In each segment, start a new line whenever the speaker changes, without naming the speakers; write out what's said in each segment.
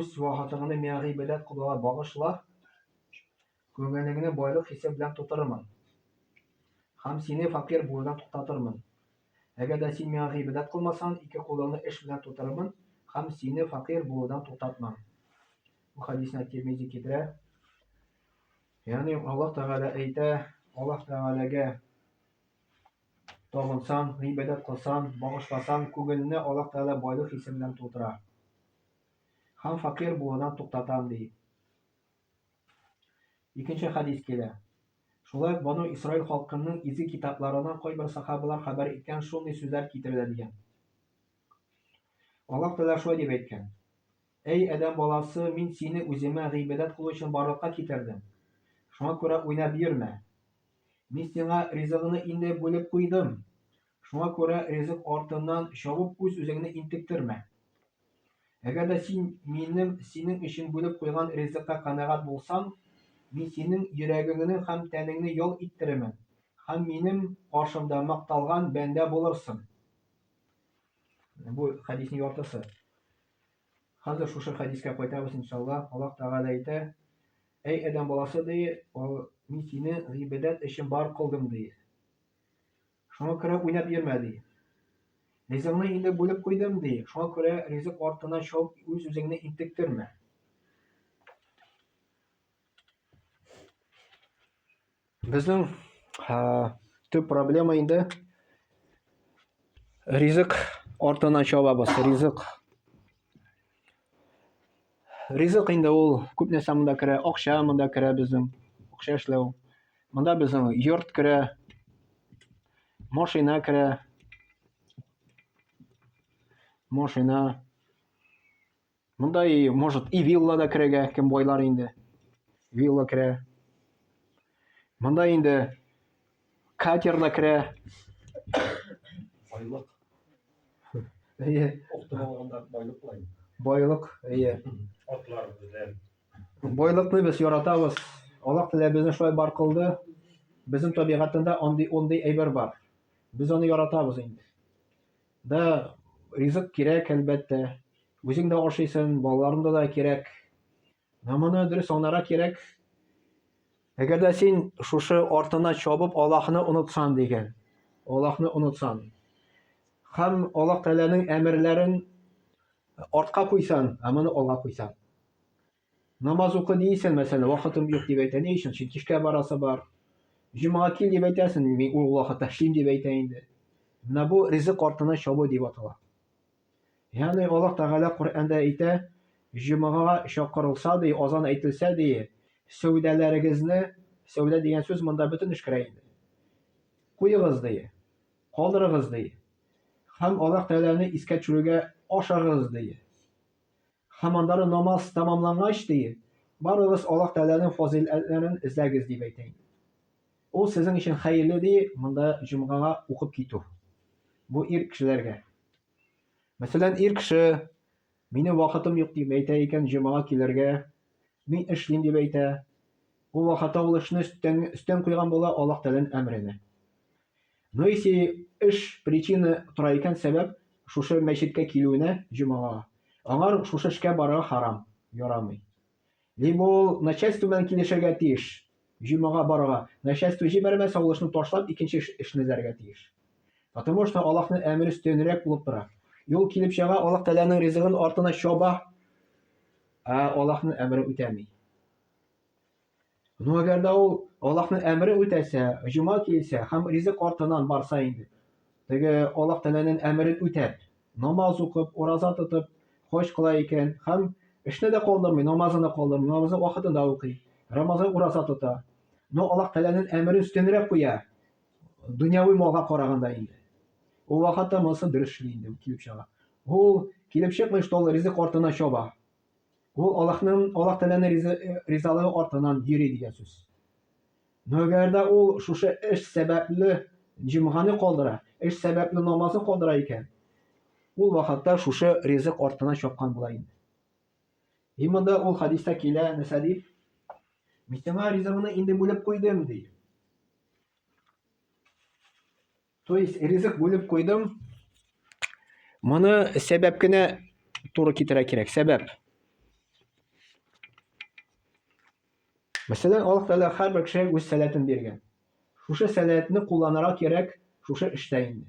Үз вакытыңны миңа гыйбадәт кылуга багышла, күңелеңне байлык хисе белән тутырырмын һәм сине факир булудан туктатырмын. Әгәр дә син миңа гыйбадәт кылмасаң, ике кулыңны эш белән тутырырмын һәм сине факир булудан туктатмам. Бу хадисне Тирмизи китерә. Ягъни Аллаһ Тәгалә әйтә, Аллаһ Тәгаләгә Табынсаң, гыйбадәт кылсаң, багышласаң, күңелне Аллаһ Тәгалә байлык хисе белән тутыра. Һәм фәкыйрь булудан туктатам, ди. Икенче хәдис килә. Шулай ук Бану Исраил халкының изге китапларыннан кайбер сахабалар хәбәр иткән шундый сүзләр китерелә дигән. Аллаһ Тәгалә шулай дип әйткән. Әй, адәм баласы, мин сине үземә гыйбадәт кылу өчен барлыкка китердем. Шуңа күрә уйнап йөрмә. Мин сиңа ризыгыңны инде бүлеп куйдым. Шуңа күрә ризык артыннан чабып үз-үзеңне интектермә. Әгәр дә син минем синең өчен бүлеп куйган ризыкка канәгать булсаң, мин синең йөрәгеңне һәм тәнеңне ял иттерермен һәм минем каршымда макталган бәндә булырсың. Бу хәдиснең яртысы. Хәзер шушы хәдискә кайтабыз, иншалла. Аллаһ Тәгалә әйтә, Әй Адәм баласы, ди, мин сине гыйбадәт өчен бар кылдым, ди. Шуңа күрә уйнап йөрмә, ди. Ризыгыңны инде бүлеп куйдым, ди. Шуңа күрә ризык артына шауып, үз-үзеңне интектермә. Безнең төп проблема инде ризык артына чабабыз. Ризык. Ризык инде ул күп нәрсә монда керә. Акча монда керә безнең. Акча эшләү. Монда безнең йорт керә. Машина керә. Машина. Монда и, может, и вилла да керәгә, кем байлар инде. Вилла керә. Монда инде катер да керә. Байлык.
Әйе. Октым алганда байлык лай. Байлык, әйе. Атлар белән. Байлыкны
без яратабыз. Аллаһ Тәгалә безне шулай бар кылды. Безнең табигатында андый ондый әйбер бар. Без аны яратабыз инде. Да ризык кирәк, әлбәттә. Үзең дә ашыйсың, балаларыңда да кирәк. Ә моны дөрес аңларга кирәк. Әгәр дә син шушы артына чабып Аллаһны онытсан дигән, Аллаһны онытсан, һәм Аллаһ Тәгаләнең әмерләрен артка куйсан, ә моны алга куйсан. Намаз укы дисең, мәсәлән, вакытым юк дип әйтә. Ни өчен? Чөнки эшкә барасы бар. Җомга кил дип әйтәсең, мин ул вакытта эшлим дип әйтә инде. Менә бу ризык артына чабу дип атала. Ягъни Аллаһ Тәгалә Коръәндә әйтә, җомга чакырылса ди, азан әйтелсә ди, сәүдәләрегезне, сәүдә дигән сүз монда бөтен эш керә инде. Куегыз ди, калдырыгыз ди. Һәм Аллаһ Тәгаләне искә төшерүгә ашагыз ди. Һәм аннары намаз тәмамлангач, ди, Барыгыз Аллаһ Тәгаләнең фазыйләтләрен эзләгез, дип әйтә иде. Ул сезнең өчен хәерле, ди, монда җомгага укып китү. Бу ир кешеләргә. Мәсәлән, ир кеше, Минем вакытым юк, дип әйтә икән, җомгага килергә, мин эшлим, дип әйтә. Ул вакытта ул эшне өстән, өстән куйган була Аллаһ Тәгаләнең әмеренә. Ну если эш причина тора икән сәбәп шушы мәчеткә килүенә җомага, аңар шушы эшкә барырга харам, ярамый. Либо ул начальство белән килешергә тиеш, җомага барырга, начальство җибәрмәсә ул эшне ташлап икенче эшне эзләргә тиеш. Потому что Аллаһның әмере өстенрәк булып тора. Юл килеп чыга, Аллаһ Тәгаләнең ризыгын артына чаба, ә Аллаһның әмерен үтәми. Ну әгәр дә ул Аллаһның әмерен үтәсә, җома килсә һәм ризык артыннан барса инде, теге Аллаһ Тәгаләнең әмерен үтәп, намаз укып, ураза тотып, хаҗ кыла икән һәм эшне дә калдырмый, намазын да калдырмый, намазын вакытында укый, Рамазан ураза тота. Но Аллаһ Тәгаләнең әмерен өстенрәк куя, дөньяви малга караганда инде. Ул вакытта монысы дөрес эшли инде килеп чыга. Ул килеп чыкмый, что ул ризык артына чаба. Ул Аллаһның Аллаһ Тәгаләнең ризы- э, ризалыгы артыннан йөри дигән сүз. Но әгәр дә ул шушы эш сәбәпле җомганы калдыра, эш сәбәпле намазны калдыра икән, ул вакытта шушы ризык артына чапкан була инде. И монда ул хадиста килә, нәрсә дип? Мин сиңа ризыгыңны инде бүлеп куйдым, ди. То есть ризык бүлеп куйдым. Моны сәбәп кенә туры китерә кирәк. Сәбәп. Мәсәлән, Аллаһ Тәгалә һәрбер кешегә үз сәләтен биргән. Шушы сәләтне кулланырга кирәк шушы эштә инде.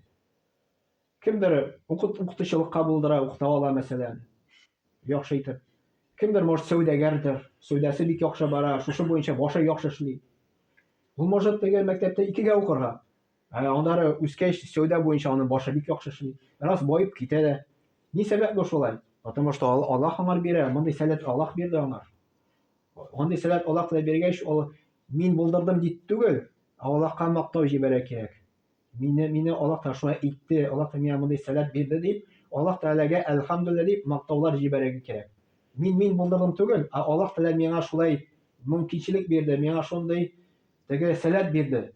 Кемдер укыт укытучылыкка булдыра, укыта ала, мәсәлән, яхшы итеп. Кемдер, может, сәүдәгәрдер, сәүдәсе бик яхшы бара, шушы буенча башы яхшы эшли. Ул может теге мәктәптә икегә укырга, Ә аннары үскәч, сәүдә буенча аның башы бик яхшы эшли. Бераз баеп китә дә. Ни сәбәпле шулай? Потому что Аллаһ аңар бирә, мондый сәләт Аллаһ бирде аңар. Мондый сәләт Аллаһ кына биргәч, ул мин булдырдым дип түгел, ә Аллаһка мактау җибәрә кирәк. Мине мине Аллаһ та шулай итте, Аллаһ та миңа мондый сәләт бирде дип, Аллаһ Тәгаләгә әлхәмдүлилләһ дип мактаулар җибәрергә кирәк. Мин мин булдырдым түгел, ә Аллаһ Тәгалә миңа шулай мөмкинчелек бирде, миңа шундый теге сәләт бирде.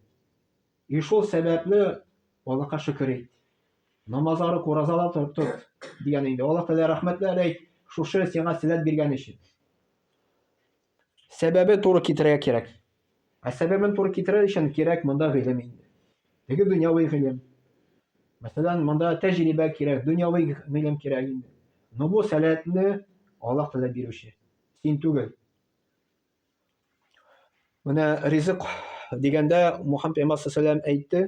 И шул сәбәпле, Аллаһка шөкер ит. Намаз арык, уразала тор, тот, дигән инде. Аллаһ Тәгалә рәхмәтләр әйт, шушы сиңа сәләт биргән өчен. Сәбәбе туры китерергә кирәк. Ә сәбәбен туры китерер өчен кирәк монда гыйлем инде. Теге дөньяви гыйлем. Мәсәлән, монда тәҗрибә кирәк, дөньяви гыйлем кирәк инде. Но бу сәләтне Аллаһ Тәгалә бирүче. Син түгел. Менә ризык дигәндә Мухаммед пәйгамбәр сәләм әйтте.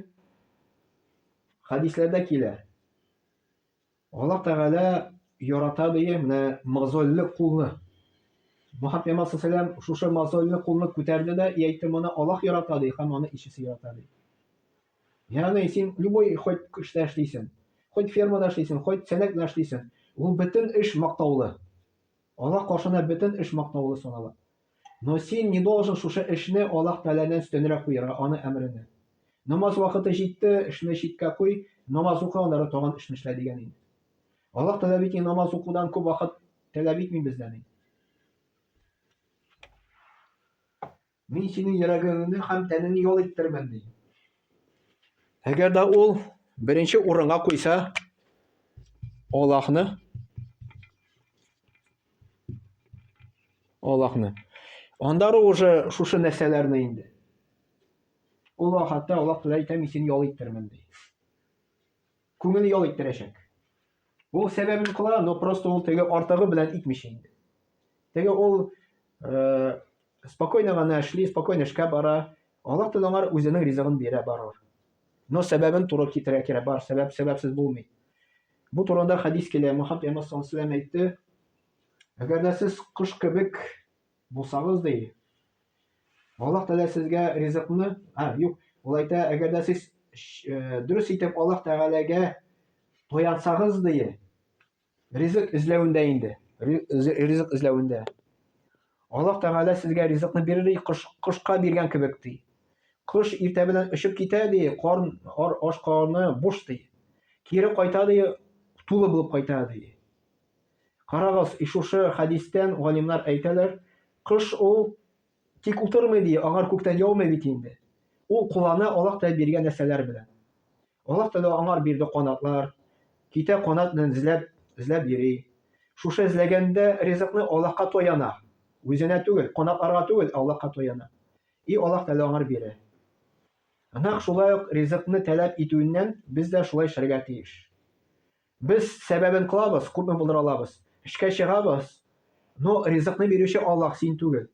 Хәдисләрдә килә. Аллаһ Тәгалә ярата ди менә мозольле кулны. Мухаммед пәйгамбәр сәләм шушы мозольле кулны күтәрде дә и әйтте, моны Аллаһ ярата ди һәм аны ишесе ярата ди. Ягъни син любой хоть эштә эшлисең, хоть фермада эшлисең, хоть сәнәк белән эшлисең, ул бөтен эш мактаулы. Аллаһ каршында бөтен эш мактаулы санала. Но син не должен шушы эшне Аллаһ Тәгаләнән өстәнрәк куярга, Аны әмерене. Намаз вакыты җитте, эшне читкә куй, намаз укы, аннары тагын эшне эшлә дигән инде. Аллаһ Тәгалә бит намаз укудан күп вакыт таләп итми бездән инде. Мин синең йөрәгеңне һәм тәнеңне ял иттермен, ди. Әгәр дә ул беренче урынга куйса, Аллаһны Аллаһны. Анда уже шушы нәрсәләрне инде. Аллаһ хәтта Аллаһ белән әйтә, мин сине ял иттермен, ди. Күңел ял иттерәчәк. Ул сәбәбен кыла, но просто ул теге артыгы белән итмичә инде. Теге ул э, спокойно гына эшли, спокойно эшкә бара. Аллаһ Тәгалә аңар үзенең ризыгын бирә барыр. Но сәбәбен туры китерә кирәк, бар сәбәп сәбәпсез булмый. Бу турында хадис килә. Мөхәммәд Пәйгамбәр саллаллаху әйтте. Әгәр дә сез кош кебек Булсагыз, ди. Аллаһ Тәгалә сезгә ризыкны, а, юк, ул әйтә, әгәр дә сез э, дөрес итеп Аллаһ Тәгаләгә таянсагыз, ди, ризык эзләвендә инде, ризык эзләвендә. Аллаһ Тәгалә сезгә ризыкны бирер, ди, кош, кошка биргән кебек, ди. Кош иртә белән очып китә, ди, корн, ар, аш корны буш, ди. Кире кайта, ди, тулы булып кайта, ди. Карагыз, шушы хәдистән галимнар әйтәләр, кош ул тик утырмый, ди, аңар күктән яумый бит инде. Ул кулана Аллаһ Тәгалә биргән нәрсәләр белән. Аллаһ Тәгалә аңар бирде канатлар, китә канат белән эзләп, эзләп йөри. Шушы эзләгәндә ризыкны Аллаһка таяна, үзенә түгел, канатларга түгел, Аллаһка таяна. И Аллаһ Тәгалә аңар бирә. Нәкъ шулай ук ризыкны таләп итүеннән без дә шулай эшләргә тиеш. Без сәбәбен кылабыз, күпме булдыра алабыз. Эшкә чыгабыз, но ризыкны бирүче Аллаһ, син түгел.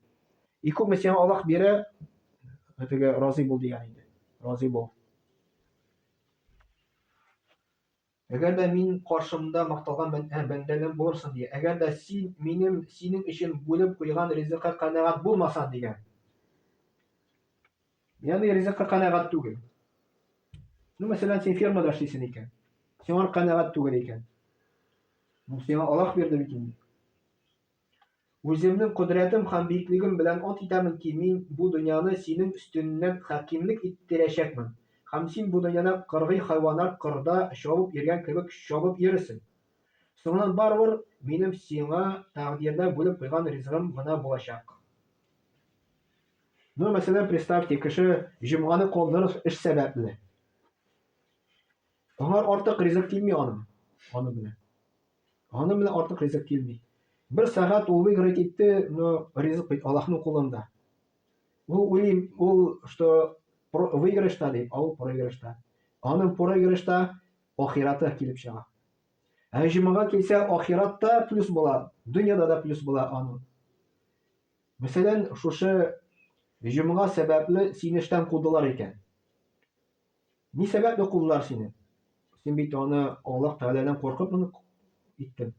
И күпме сиңа Аллаһ бирә, теге разый бул дигән инде. Разый бул. Әгәр дә мин каршымда макталган бәндәгем булырсың дигән. Әгәр дә син минем синең өчен бүлеп куйган ризыкка канәгать булмасаң дигән. Ягъни ризыкка канәгать түгел. Ну, мәсәлән, син фермада эшлисең икән. Сиңа канәгать түгел икән. Ну, сиңа Аллаһ бирде бит инде. Үземнең кодрәтем һәм биеклегем белән ат итәмен ки, мин бу дөньяны синең өстеннән хакимлек иттерәчәкмен. Һәм син бу дөньяда кыргый хайваннар кырда чабып йөргән кебек чабып йөрерсең. Соңыннан барыбер минем сиңа тәкъдирдә бүлеп куйган ризыгым гына булачак. Ну, мәсәлән, представьте, кеше җомганы калдырыр эш сәбәпле. Аңа артык ризык килми аның. Аны белә. Аны белә артык ризык килми. Бер сәгать ул играть итте, но ризык бит Аллаһның кулында. Ул уйлый, ул что выигрышта дип, а ул проигрышта. Аның проигрышта ахираты килеп чыга. Ә җомага килсә, ахиратта плюс була, дөньяда да плюс була аның. Мәсәлән, шушы җомга сәбәпле сине эштән кудылар икән. Ни сәбәпле кудылар сине? Син бит аны Аллаһ Тәгаләдән куркып моны иттең.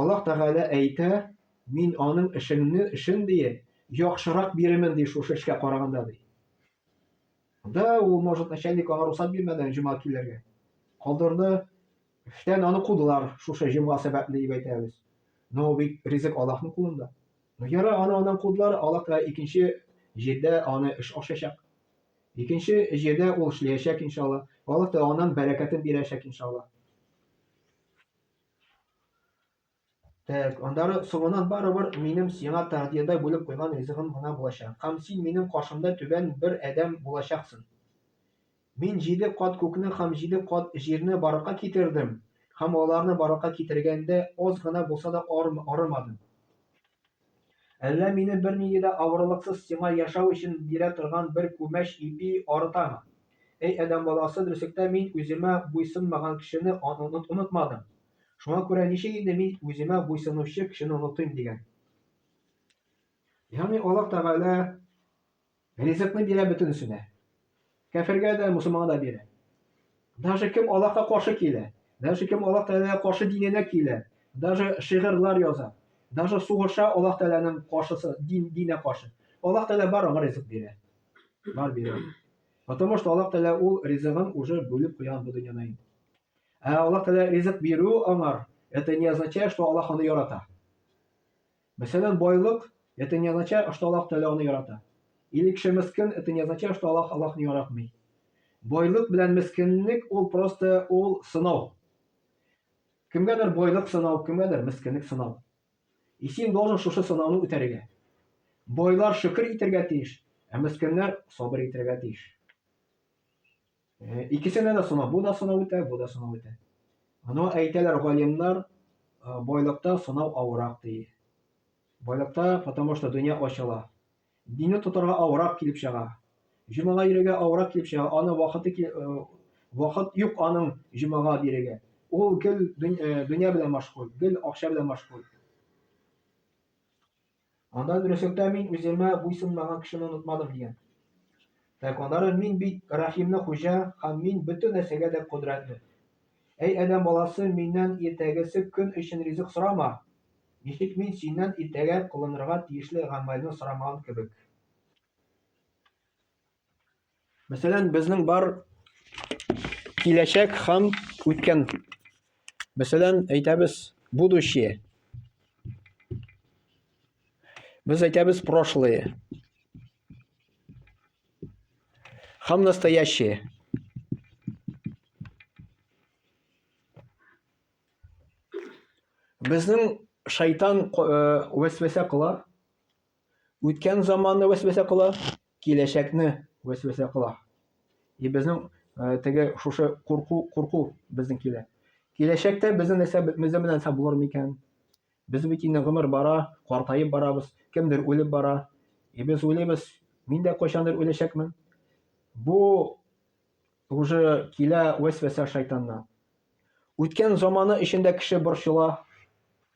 Аллаһ Тәгалә әйтә, мин аның эшеңне, эшен дие, яхшырак бирермен ди шушы эшкә караганда ди. Да, ул, может, начальник аңа рөхсәт бирмәде җомга килергә. Калдырды. Эштән аны кудылар, шушы җомга сәбәпле дип әйтәбез. Но бит ризык Аллаһның кулында. Ну яра аны аннан кудылар, Аллаһ та икенче җирдә аны эш ачачак. Икенче җирдә ул эшләячәк иншалла. Аллаһ та аннан бәрәкәтен бирәчәк иншалла. Так, аннары соңынан барыбер минем сиңа тәгъдиядә бүлеп куйган ризыгым гына булачак. Һәм син минем каршымда түбән бер адәм булачаксын. Мин җиде кат күкне һәм җиде кат җирне барлыкка китердем, һәм аларны барлыкка китергәндә аз гына булса да арымадым. Әллә мине бернинди дә авырлыксыз сиңа яшәү өчен бирә торган бер күмәч ипи арытамы? Әй адәм баласы, дөреслектә мин үземә буйсынмаган кешене онытмадым. Шуңа күрә ничек инде мин үземә буйсынучы кешене онытыйм дигән. Ягъни Аллаһ Тәгалә ризыкны бирә бөтенесенә. Кәфергә дә, мусулманга да бирә. Даже кем Аллаһка каршы килә, даже кем Аллаһ Тәгаләгә каршы диненә килә, даже шигырьләр яза, даже сугыша Аллаһ Тәгаләнең каршысы, дин, динә каршы. Аллаһ Тәгалә бар аңа ризык бирә. Бар бирә. Потому что Аллаһ Тәгалә ул ризыгын уже бүлеп куйган бу дөньяда инде. Ә Аллаһ Тәгалә ризык бирү аңар, это не означает, что Аллаһ аны ярата. Мәсәлән, байлык, это не означает, что Аллаһ Тәгалә аны ярата. Или кеше мескин, это не означает, что Аллаһ Аллаһны яратмый. Байлык белән мескинлек ул просто ул сынау. Кемгәдер байлык сынау, кемгәдер мескинлек сынау. И син должен шушы сынауны үтәргә. Байлар шөкер итәргә тиеш, ә мескиннәр сабыр итәргә тиеш. Икесенә дә сынау, бу да сынау үтә, бу да сынау үтә. Но әйтәләр галимнар, байлыкта сынау авырак ди. Байлыкта, потому что дөнья ачыла. Динне тотарга авырак килеп чыга. Җомага йөрергә авырак килеп чыга, аны вакыты вакыт юк аның җомага бирергә. Ул гел дөнья белән машгуль, гел акча белән машгуль. Анда дөреслектә мин үземә буйсынмаган кешене онытмадым, дигән. Так, аннары мин бит Рәхимне хуҗа һәм мин бөтен нәрсәгә дә кодрәтле. Әй адәм баласы, миннән иртәгесе көн өчен ризык сорама! Ничек мин синнән иртәгә кылынырга тиешле гамәлне сорамаган кебек. Мәсәлән, безнең бар киләчәк һәм үткән. Мәсәлән, әйтәбез будущее. Без әйтәбез прошлое. Һәм настоящее. Безнең шайтан э, вәсвәсә кыла. үткән заманны вәсвәсә кыла, киләчәкне вәсвәсә кыла. И безнең э, теге шушы курку, курку безнең килә. Киләчәктә безнең нәрсә безнең белән нәрсә булыр микән? Без бит инде гомер бара, картаеп барабыз, кемдер үлеп бара. И без уйлыйбыз, мин дә кайчандыр үләчәкмен. Бу уже килә вәсвәсә шайтаннан. Үткән заманы эчендә кеше борчыла,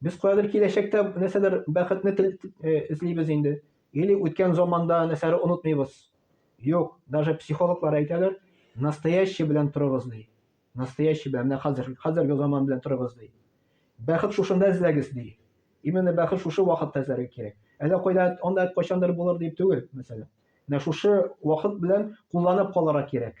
Без каядыр киләчәктә нәрсәдер бәхетне тел э, эзлибез инде. Или үткән заманда нәрсәләр онытмыйбыз. Юк, даже психологлар әйтәләр, настоящий белән торыгыз ди. Настоящий белән, менә хәзер, хәзерге заман белән торыгыз ди. Бәхет шушында эзләгез ди. Именно бәхет шушы вакытта эзләргә кирәк. Әллә кайда анда кайчандыр булыр дип түгел, мәсәлән. Менә шушы вакыт белән кулланып калырга кирәк.